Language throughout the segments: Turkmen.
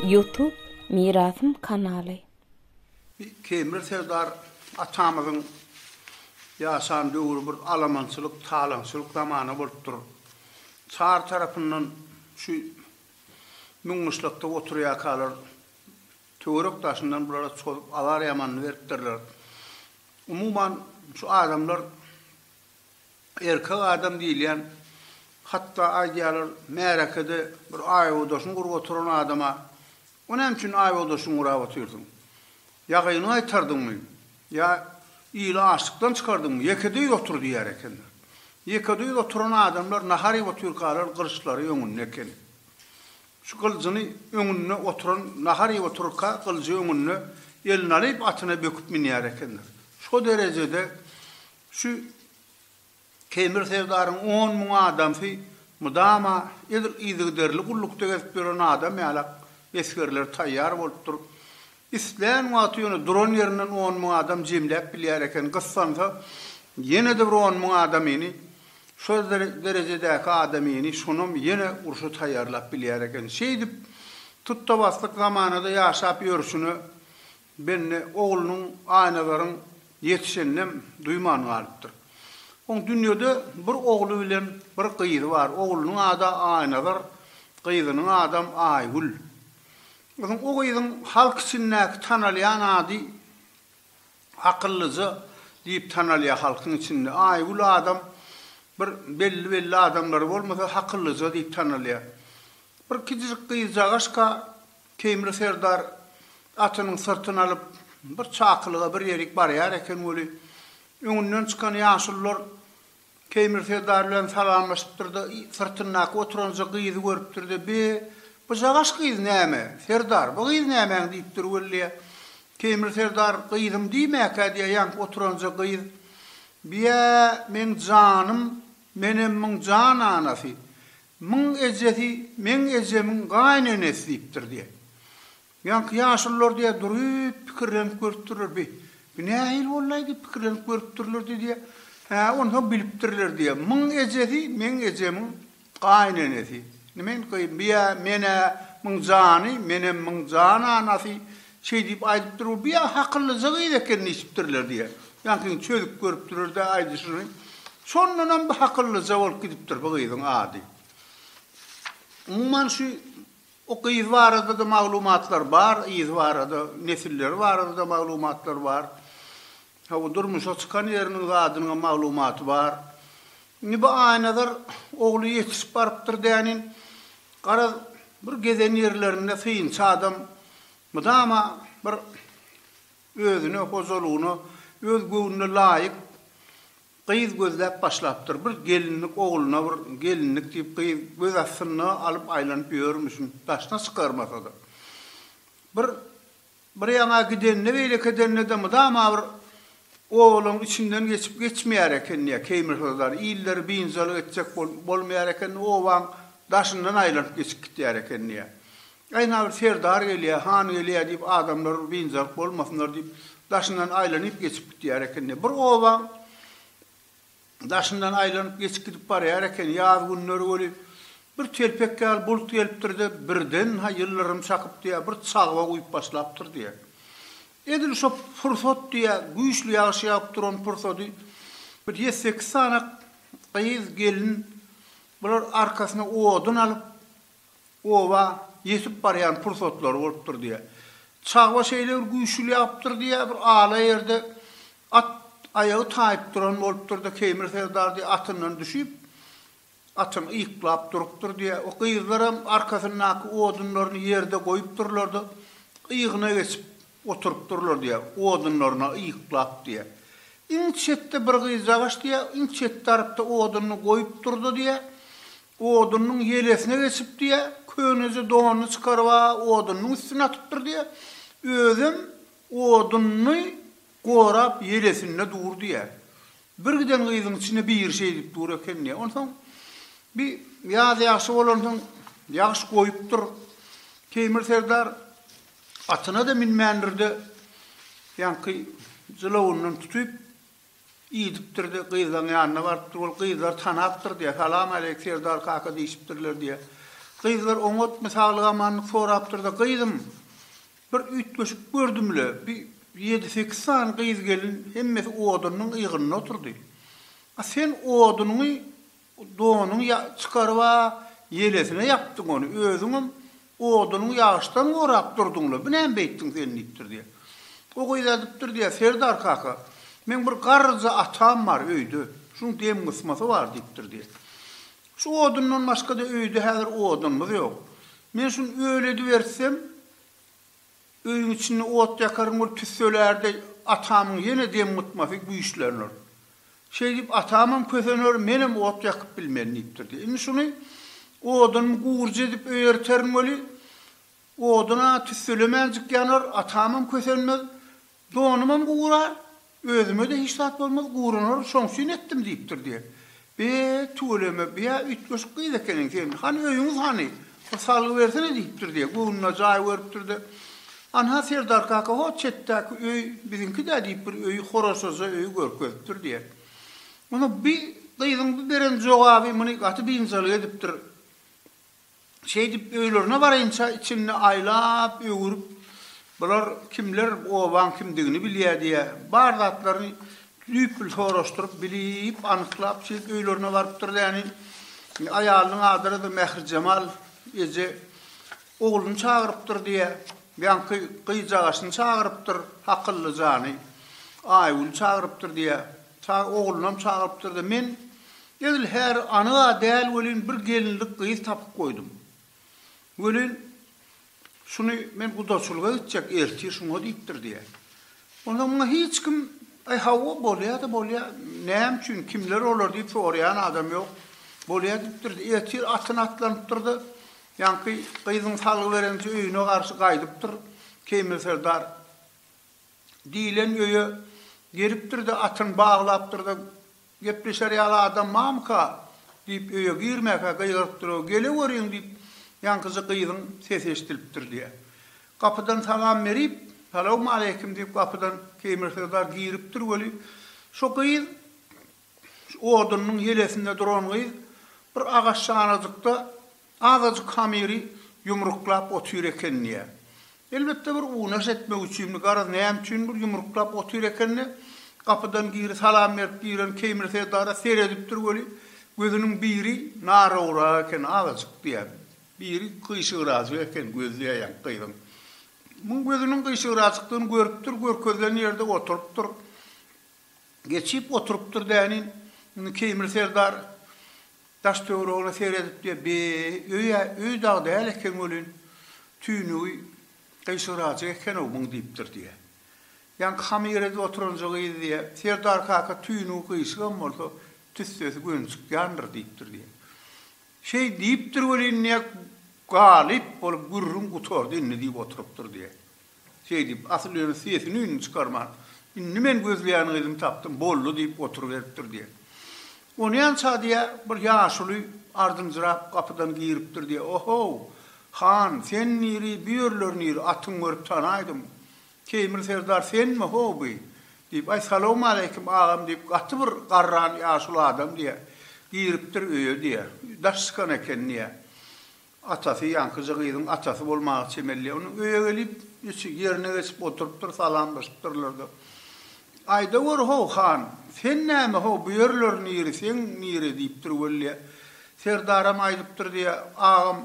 Youtube Mirasym kanaly. Kemir Serdar atamyzyň ýaşan döwri bir alamançylyk, talaňçylyk zamany bolupdyr. Çar tarapyndan şu müň gyşlakda oturýarkalar Töwerek daşyndan bulara çozup azar ýamanyny beripdirler. Umuman şu adamlar erkek adam diýilýän hatda aýdýarlar märekede bir aýodaşyny gurup oturan adama O näme üçin aýodaşyňy gurap otyrsyň? Ýagyňy gaýtardyňmy? Ýa ili açlykdan çykardyňmy? Ýekedüýz otur diýer ekenler. Ýekedüýz oturan adamlar nahar iýip otyrkalar gylyçlary öňünde eken. Şu gyljyny öňünde oturan nahar iýip otyrka gyljy öňünde elini alyp atyna böküp münýär ekendir. Şo derejede şu Keýmir serdaryň on müň adamsy mydama edil yzygiderli gullukda gezip ýören adam ýalak esgerler taýýar bolupdyr. Islän wagty ýöne duran ýerinden on müň adam jemläp bilýär eken, gyssansa, ýene-de bir on müň adamyny, şol derejedäki adamyny şonam ýene urşa taýýarlap bilýär eken. Şeýdip, tutda-baslyk zamanada ýaşap ýörşüne Bende oglunyň, Aýnazaryň ýetişeninem duýman galypdyr. Oň dünýede bir ogly bilen bir gyzy bar. Oglunyň ady Aýnazar, gyzynyň adam Aýgül. Soň o gyzyň halk içindäki tanalýan ady Akyllyja diýip tanalýar halkyň içinde. Aýgül adam bir belli-belli adamlary bolmasa Hakyllyja diýip tanalýar. Bir kiçijik gyzjagaşka Teýmir serdar atynyň syrtyny alyp bir çakylyga bir ýerik barýar eken weli, öňünden çykan ýaşulular Teýmir serdar bilen salamlaşypdyr-da, syrtyndaky oturanjy gyzy görüpdir-de, Be, bujagaş gyz näme, serdar, bu gyz nämäň diýip dur weli. Teýmir serdar, Gyzym diýmäkä diýýän, oturanjy gyz, Biä, meň janym, menem myň jan anasy, myň ejesi, meň ejemiň gaýynenesi diýipdir diýýän. Ýaňky ýaşulylar diýýär, durup pikirlenip görüpdirler, bi, bi nähili bolaýdy, pikirlenip görüpdirlerdi diýýär. Hä, onsoň bilipdirler diýýär. Muň ejesi, meň ejemiň gaýynenesi. Nime indi gyýyn, bi-ä, men-ä muň jany, menem muň jan anasy, şeý diýip aýdypdyr, bu bi-ä hakyllyja gyz eken diýşipdirler diýýär. Ýaňkyny çözüp görüpdiler-de aýdyşyny. Şondanam bi hakyllyja bolup gidipdir bu gyzyň ady. Umuman şu O gyz barada-da maglumatlar bar, yzy barada, nesilleri barada-da maglumatlar bar. Hawa, durmuşa çykan ýeriniň zadynyňam maglumaty bar. Indi bu Aýnazar ogly ýetişip barypdyr dänin. Garaz, bir gezen ýerlerinde synçy adam mydama bir özüne, hojalygyna, öz göwnüne laýyk Gyz gözläp başlapdyr. Bir gelinlik ogluna bir gelinlik diýip gyz göz astynda alyp aýlanyp ýörmüşin, daşyna çykarmasa-da. Bir bir ýaňa gidende beýleki edende-de mydama bir obalaň içinden geçip geçmeýär ekeni ýa keýmirhozar illeri biynjalyk etjek bolup bolmaýar ekeni obaň daşyndan aýlanyp geçip gitýär ekeni ýa. Gaýna bir serdar gelýär, han gelýär diýip, adamlar biynjalyk bolmasynlar diýip, daşyndan aýlanyp geçip gidýär eken-de. Bir obaň daşyndan aýlanyp geçip gidip barýar eken. Ýaz günleri weli, bir telpek ýaly bulut gelipdir-de, birden-ha ýyldyrym çakyp diýýär, bir çagba guýup başlapdyr diýýär. Edil şo pursat diýýär, güýçli ýagyş ýagyp duran pursady bir ýedi-sekiz sany gyz, gelin bular arkasyna odun alyp, Oba ýetip barýan pursatlary bolupdyr diýýär. Çagba şeýle bir güýçli ýagypdyr diýýär, bir ala ýerde at aýagy taýyp duran bolupdyr-da, Keýmir serdar diýýär, atyndan düşüp, atyny yýklap durupdyr diýýär. O gyzlaram arkasyndaky odunlaryny ýerde goýupdyrlar-da, yýgyna geçip oturypdyrlar diýýär, odunlaryna yýklap diýýär. Iň çetde bir gyzjagaş diýýär, iň çet tarapda odunyny goýupdyr-da diýýär, Odunyň ýelesine geçip diýýä, köneje donuny çykaryp-a odunyň üstüne atypdyr diýýä. Özem oduny gorap ýelesinde dur diýýä. Bir giden gyzyň içinde biri şeýdip dur eken diýýä. Onsoň bir ýaz ýagşy bolansoň ýagyş goýupdyr. Teýmir serdar atyna-da münmändir-de, ýaňky jylawundan tutyp, Iýdipdir-de, gyzlaň ýanyna barypdyr. Ol gyzlary tanapdyr diýýär. Salam aleýk, serdar kaka diýşipdirler diýýär. Gyzlar oňatmy, saglyk-amanlyk sorapdyr-da, Gyzym, bir üýtgeşik gördüm-le, bir ýedi-sekiz sany gyz-gelin hemmesi odunyň ýygynda otyrdy. A sen odunyňy Donuňy çykaryp-a, ýelesine ýapdyň ony, özüňem odunyň ýagyşdan gorap durduň-la, bu näme beýtdiň sen? diýipdir diýýär. O gyz ädipdir diýýär, Serdar kaka, meň bir garryja atam bar öýde, şuň dem gysmasy bar diýipdir diýýär. Şu odundan başga-da öýde häzir odunymyz ýok. Men şuny öl edibertsem, Öýüň içinde ot ýakaryn bolup tüsselärdei atamyň ýene demgutmasy güýçlenir. Şeýdip atamam kösener, menem ot ýakyp bilmen diýipdirdi. Indi şuny odunymy gurjy edip öý erterin weli, odun-a tüsselemänjik ýanar, atamam kösenmez. Donumam gurar, özüme-de hiç zat bolmaz, guranar, şoň üçin etdim diýipdir diýýä. Be, tüweleme, bia üýtgeşik gyz ekeniň sen, hany öýüňiz hany, bir salgy bersene diýipdir diýýä, göwnüne jaý görüpdir-de, Anha, serdar kaka, hot çetdäki öý biziňki-dä diýip bir öýi, horasaja öýi görkezipdir diýýä. Onda bi gyzyň bi beren jogaby muny gaty biynjalyk edipdir. Şeýdip, öýlerine barynça içinde aýlap, öwürip, bular kimler, bu obaň kimdigini bilýär diýýä. Bar zatlaryny düýpli soraşdyryp, bilip, anyklap, şeýdip öýlerine barypdyr däni. Aýalynyň adyny-da Mährijemal eje ogluny çagyrypdyr diýýä. Ýaňky gyjagaşyny çagyrypdyr, Hakylly jany, Aýgüli çagyrypdyr diýýä. Çag oglunam çagyrypdyr-da, men Edil häri anyg-a däl welin bir gelinlik gyz tapyp goýdum. Welin, şuny men gudaçylyga gitjek ertir şuňa diýipdir diýýär. Onda muňa hiç kim, Aý hawa, bolýa-da bolýa, näme üçin, kimler olar diýip soraýan adam ýok. Bolýa diýipdir. Ertir atyna atlanypdyr-da, ýaňky gyzyň salgy berençe öýüne garşy gaýdypdyr. Keýmil serdar diýlen öýe gelipdir-de, atyny baglapdyr-da, Gepleşer ýaly adam mamyka? diýip, öýe girmäkä gygyryp durup, Geleweriň! diýip, ýaňkyja gyzyň sesi eşidilipdir diýýär. Gapydan salam berip, Salawmaleýkim! diýip, gapydan Keýmir syrdar giripdir weli, şo gyz, odunynyň ýelesinde duran gyz bir agaç şanajykda Azajyk hamyry ýumruklap otyr eken diýýär. Elbetde bir unaş etmek üçinmi, garaz näme üçindir ýumruklap otyr eken-de, gapydan giri salam berip giren Keýmir serdara seredipdir weli, gözüniň biri naragrak eken, azajyk diýýär. Biri gyşygrajyk eken, gözi ýaýaň gyzyň. Muň gözüniň gyşygrajykdygyny görüpdir, görkezilen ýerde oturypdyr. Geçip oturypdyr dänin. Indi Keýmir serdar daş-töweregine seredipdi. Be, öý-ä öý dagy däl eken welin, tüýnügi gyşygyrajyk eken-ow muň diýipdir diýýä. Ýaňky hamyr edip oturanjy gyz diýýä, Serdar kaka tüýnügi gyşygam bolsa, tüssesi gönçük ýandyr diýipdir diýýä. Şeý diýipdir welin diýýä, galyp bolup gürrüň gutardy indi diýip oturypdyr diýýä. Şeýdip, Asyl ýöne sesini-üýnüni çykarman, Indi men gözleýän gyzymy tapdym, boldy diýip oturyberipdir diýýär. Onýança diýýär, bir ýaşuly ardynjyrap gapydan giripdir diýýär. O-how, han, sen niri, bu ýerler niri, atyňy görüp tanaýdym. Teýmir serdar senmi, ho, bi? diýip, Aý, salowmaleýkim, agam diýip, gaty bir garran ýaşuly adam diýýär. Giripdir öýe diýýär. Daş çykan eken diýýär. Atasy ýaňkyja gyzyň atasy bolmaga çemelýär. Onuň öýe gelip, içi ýerine geçip oturypdyr, salamlaşypdyrlar-da. Aýda gör-how, han, sen näme-how, bu ýerler niri, seň niri? diýipdir Weliýa. Serdaram aýdypdyr diýýär, Agam,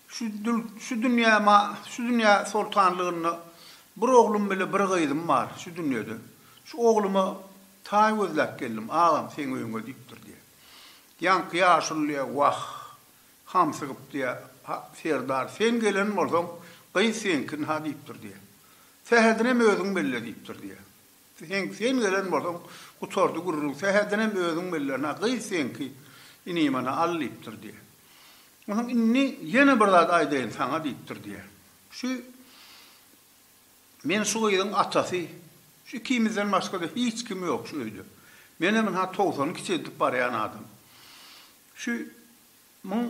şu dül, şu dünýä ma, şu dünýä soltanlygynda bir oglum bile bir gyzym bar, şu dünýede. Şu ogluma taý gözläp geldim, agam, seň öýüňe diýipdir diýýär. Ýaňky ýaşuly diýýär, Wah, Hamsygyp diýýär, Ha, serdar, sen gelen bolsaň, gyz seňkin-ha diýipdir diýýär. Sähedinem özüň belle diýipdir diýýär. Sen, sen gelen bolsaň, gutardy gürrüň, sähedinem özüň belle-na, gyz seňki, inimana al diýipdir diýýär. Onsoň indi ýene bir zat aýdaýyn saňa diýipdir diýýär. Şu Men şu gyzyň atasy, şu ikimizden başga-da hiç kim ýok şu öýde. Menem ynha togsan kiçeldip barýan adam. Şu muň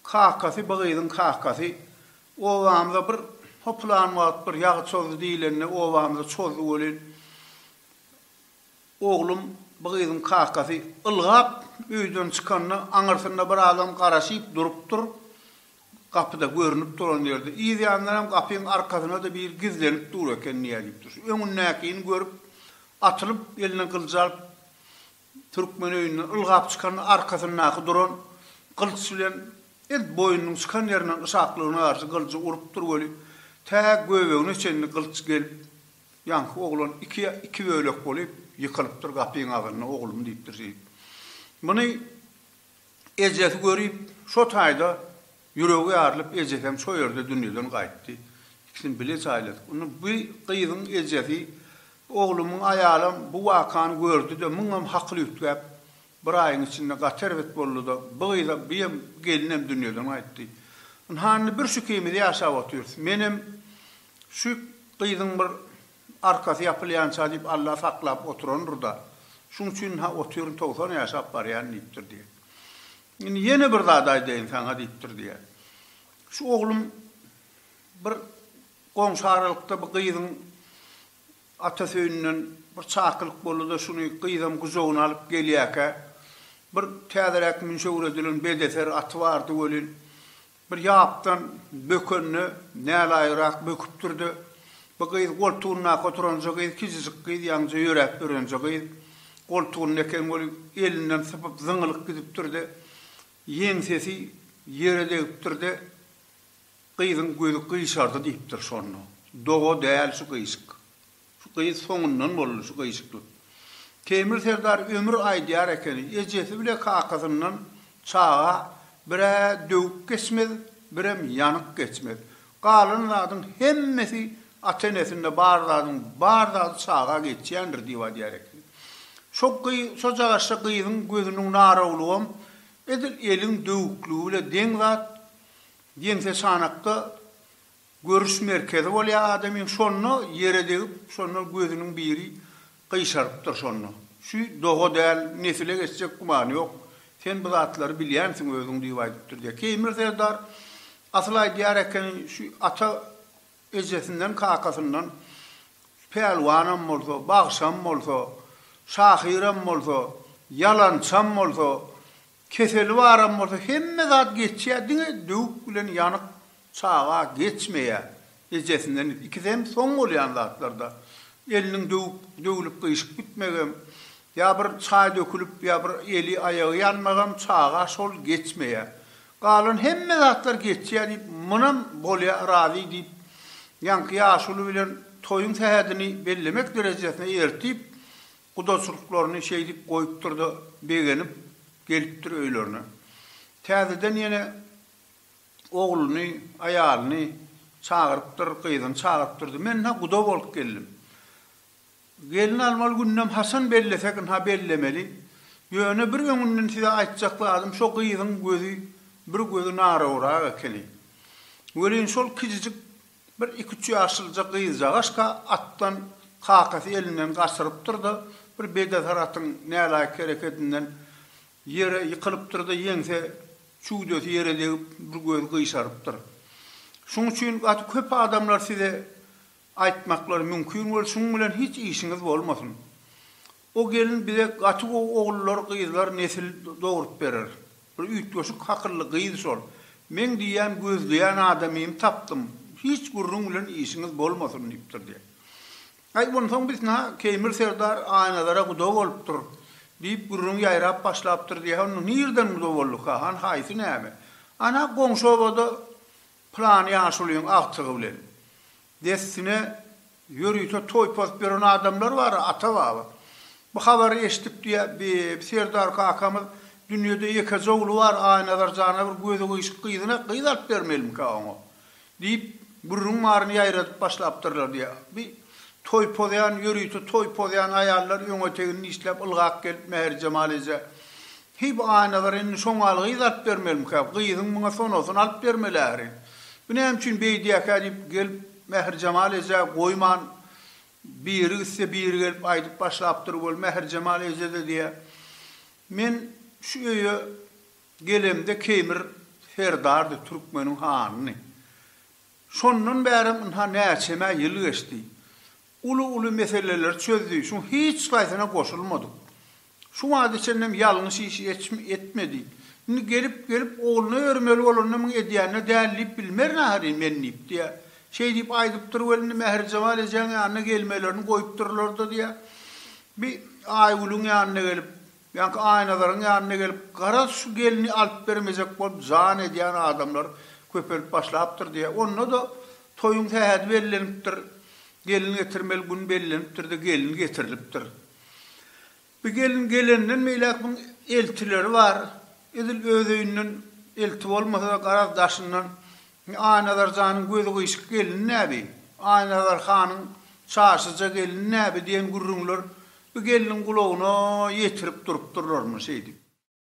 kakasy bu gyzyň kakasy obamyza bir hoplan wagt bir ýag çozdy diýlende obamyza çozdy welin oglum bu gyzyň kakasy ylgap öýden çykanda aňyrsynda bir adam garaşyp durupdyr gapyda görünip duran ýerde yz ýandanam gapyň arkasynada biri gizlenip dur eken diýýär diýipdir şu öňündäkini görüp atylyp eline gylyjy alyp Türkmen öýünden ylgap çykanda arkasyndaky duran gylyç bilen edil boýnunyň çykan ýerinden yşaklygyna garşy gylyjy urupdyr weli, tä göbegine çenli gylyç gelip, ýaňky oglan iki iki bölek bolup ýykylypdyr gapyň agzynda oglum diýipdir şeýdip. Muny Ejesi görüp, şo taýda ýüregi ýarylyp, ejesem şo ýerde dünýeden gaýtdy. Ikisini bile jaýladyk. Indi bu gyzyň ejesi, Oglumyň aýalam bu wakany gördi-de, muňam hakyly üýtgäp, bir aýyň içinde gaty erbet boldy-da, bu gyzam, bu ýem, gelinem dünýeden gaýtdy. Ynha, indi bir şu ikimiz ýaşap otyrys. Menem şu gyzyň bir Arkasy ýapylýança diýip Alla saklap oturandyr-da, şuň üçin-hä otyryn togsan ýaşap barýan diýipdir diýýär. Indi ýene bir zat aýdaýyn saňa diýipdir diýýär. Şu oglum bir goňşy aralykda bir gyzyň atasy öýünden bir çakylyk boldy-da şuny gyzam gujagyna alyp gelýäkä, bir täzeräk münşewür edilen bedeser aty bardy welin, Bir ýapdan bökende nälaýyrak böküpdir-de, bu gyz goltugyndaky oturanja gyz kiçijik gyz ýaňja ýöräp örenje gyz, goltugynda eken ol elinden sypyp zyňylyp gidipdir-de, ýeňsesi ýere degipdir-de, gyzyň gözi gyşardy diýipdir şonda. Doga däl şu gyşyk. Şu gyz soňundan boldy şu gyşyklyk. Teýmir serdar ömür aýdýar ekeni, ejesi bile kakasyndan çaga bir-ä döwük geçmez, birem ýanyk geçmez. Galan zadyň hemmesi ata-enesinde bar zadyň bar zady çaga geçýändir diýip aýdýar ekeni. Şo gyz şo jagaşja gyzyň gözüniň narawlygam edil eliň döwükligi bile deň zat, ýeňseçanakda Görüş merkezi bolýar adamyň şonda ýere degip şonda gözüniň biri gyşarypdyr şonda. Şu doga däl nesile geçjek gümany ýok. Sen bu zatlary bilýänsiň özüň diýip aýdypdyr diýýär. Keýmir serdar asyl aýdýar ekeni şu ata ejesinden kakasyndan pälwanam bolsa, bagşam bolsa, şahyram bolsa, ýalançam bolsa Keseli baram bolsa hemme zat geçýä diňe döwük bilen ýanyk çaga geçmeýä ejesinden ikisi hem soň bolýan zatlarda eliniň döwük döwülip gyşyp gitmegem ýa bir çaý dökülip ýa bir eli aýagy ýanmagam çaga şol geçmeýä galan hemme zatlar geçýä diýip munam bolýa razy diýip ýaňky ýaşuly bilen toýuň sähedini bellemek derejesine ertip Gudaçylyklaryny şeýdip goýupdyr-da, begenip, gelipdir öýlerine. Täzeden ýene ogluny, aýalyny çagyrypdyr, gyzyny çagyrypdyr-da, Men-hä guda bolup geldim. Gelin almaly gündem haçan bellesek, ynha bellemeli. Ýöne bir öňünden size aýtjak zadym, şo gyzyň gözi bir gözi narawrak ekeni. Welin şol kiçijik Bir iki-üç ýaşylja gyzjagaşka atdan kakasy elinden gaçyrypdyr-da, bir bedesar atyň nälaýyk hereketinden ýere ýykylypdyr-da, ýeňse çüwdesi ýere degip, bir gözi gyşarypdyr. Şuň üçin gaty köp adamlar size aýtmaklary mümkin bol, şuň bilen hiç işiňiz bolmasyn. O gelin bize gaty gowy ogullar gyzlar nesil dogrup berer. Bir üýtgeşik hakylly gyz şol. Meň diýýän gözleýän adamym tapdym. Hiç gürrüň bilen işiňiz bolmasyn diýipdir diýýär. Aý onsoň bisna Keýmir serdar Aýnazara guda bolupdyr diýip gürrüň ýaýrap başlapdyr diýýär. Onda nirden guda bolduka han haýsy näme? Ana goňşy obada pylan ýaşulyň agtygy bilen. Dessine ýörite toý pozup ýören adamlar bar-a, ata-baba. Bu habary eşidip diýä, bi, Serdar kakamyz, Dünýede ýekeje ogly bar, Aýnazar jana bir gözi gyşyk gyzyna gyz alyp bermelimikä oňa? diýip, gürrüň baryny ýaýradyp başlapdyrlar diýä. Bi, toý pozýan, ýörite toý pozýan aýallar öňe-tegini dişläp ylgap gelip Mähirjemal eje, Heý bu Aýnazar indi şoňaly gyz alyp bermelimikä, gyzyň muňa sonosyny alyp bermeli ähli. Bu näme üçin beýdýäkä diýip gelip Mähirjemal ejä goýman biri gitse biri gelip aýdyp başlapdyr wol Mähirjemal eje-de diýýä, Men şu öýe gelemde Keýmir serdardy türkmeniň hanyny. Şondan bärem ynha näçemä ýyl geçdi. Uly-uly meseleleri çözdi, şuň hiç haýsyna goşulmadyk. Şu wagta çenlem ýalňyş işi etmedi. Indi gelip, gelip ogluna örmeli bolanda muny edýänine däl diýip bilmerin ahyryn men diýip, diýýä. Şeý diýip aýdypdyr weli indi Mährijemal ejäň ýanyna gelmelerini goýupdyrlar-da diýýä. Bi Aýgülüň ýanyna gelip. Ýaňky Aýnazaryň ýanyna gelip, Garaz, şu gelni alyp bermejek bolup jan edýän adamlar köpelip başlapdyr diýýär. Onda-da toýuň sähedi bellenipdir, gelin getirmeli gün bellenipdir-de, gelin getirilipdir. Bu gelin gelenden beýläk muň eltileri bar. Edil öz öýünden elti bolmasa-da, garaz, daşyndan Indi Aýnazar janyň gözi gyşyk gelin näbi, Aýnazar hanyň çaşyja gelin näbi diýen gürrüňler bu gelniň gulagyna ýetirip durupdyrlarmy şeýdip.